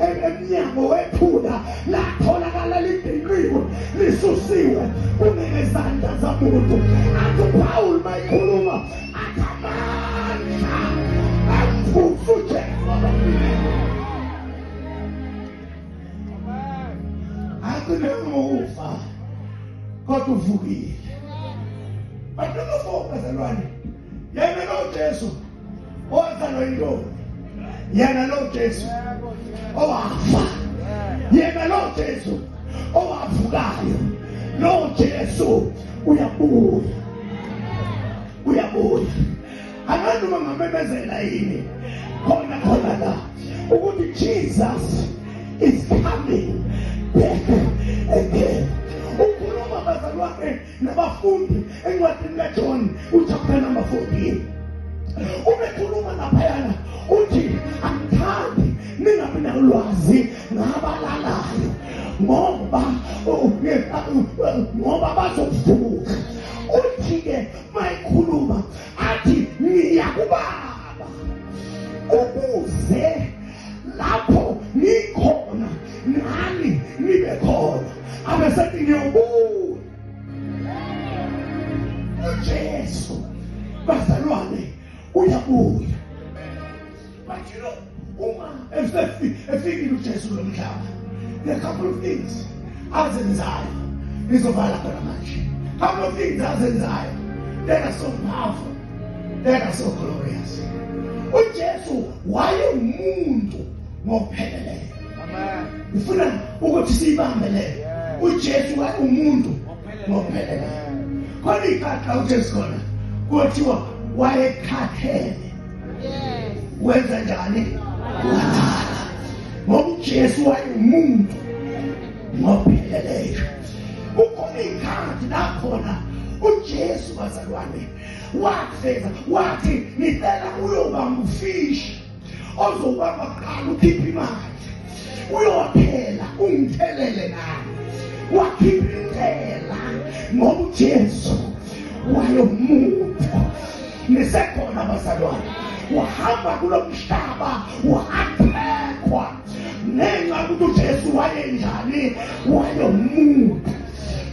emnyango wephula latholakala libhinqiwe lisusiwe kunengezandla zamuntu athi upawulu mayikhuluma athi amandla amvusa ujesu athi nengokufa kodwa uvukile bantu nofokazelwane yena nojesu owazalwa intombi yena lo Jesu owafa yena lo Jesu owavukayo lo Jesu uyabuya uyabuya angazi uma ngamemezela yini khona khona la ukuthi Jesus is coming back again ukhuluma bazalwane nabafundi encwadini kaJohn uchapter number 14 ubekhuluma naphayana uthi angithandi ningabi nalwazi ngabalalayo ngoba ngoba bazovuka uthi-ke mayikhuluma athi ngiyakubaba ukuze lapho ngikhona nani nibe khona abesethi ngiyobuya ujesu bazalwane uyabuya But you know, uma efikile uJesu lo mhlaba, there are a couple of things azenzayo nizovala khona manje. Couple of things azenzayo that are so powerful, that are so glorious. UJesu wayengumuntu ngokupheleleyo. Amen. Ufuna ukuthi siyibambe leyo. uJesu wayengumuntu ngokupheleleyo khona ikhakha uJesu khona kuthiwa wayekhathele wenze njani wadala ngoba ujesu wayewumuntu ngopheleleyo ukhona iy'khathi nakhona ujesu bazalwane wafeza wathi ngicela uyoba ngufishi ozobamba kuqala ukhiphe imali uyothela ungithelele nami wakhipha intela ngoba ujesu wayomuntu nisekhona abazalwane uhamba kulo mhlaba uhathekwa ngenxa ukuthi ujesu wayenjani wayomuntu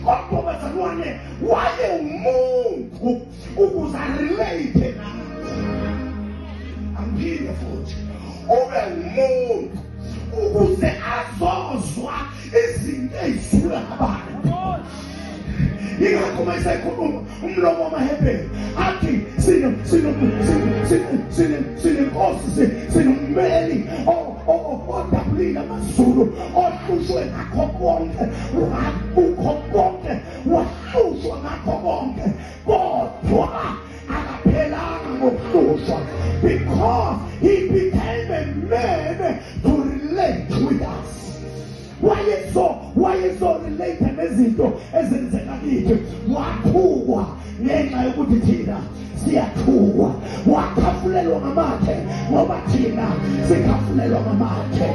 kodwa bazalwane waye umuntu ukuze arelate nathi angiphinde futhi ube umuntu ukuze azozwa izinto ezisula ngabantu ingakho uma esekhuluma umlomo wamahebheni athi sinenkosi sinommeli odabulile amazulu ohlushwe ngakho konke wakukho konke wahlushwa ngakho konke kodwa akaphelanga ngokuhlushwa because he became a man to relate with us wayezo wayezo relate nezinto ezenzeka kithi wathukwa ngenxa yokuthi thina siyathukwa wakhafulelwa ngamathe ngoba thina sikhafulelwa ngamathe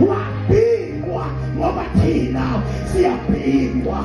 wabikwa ngoba thina siyabhingwa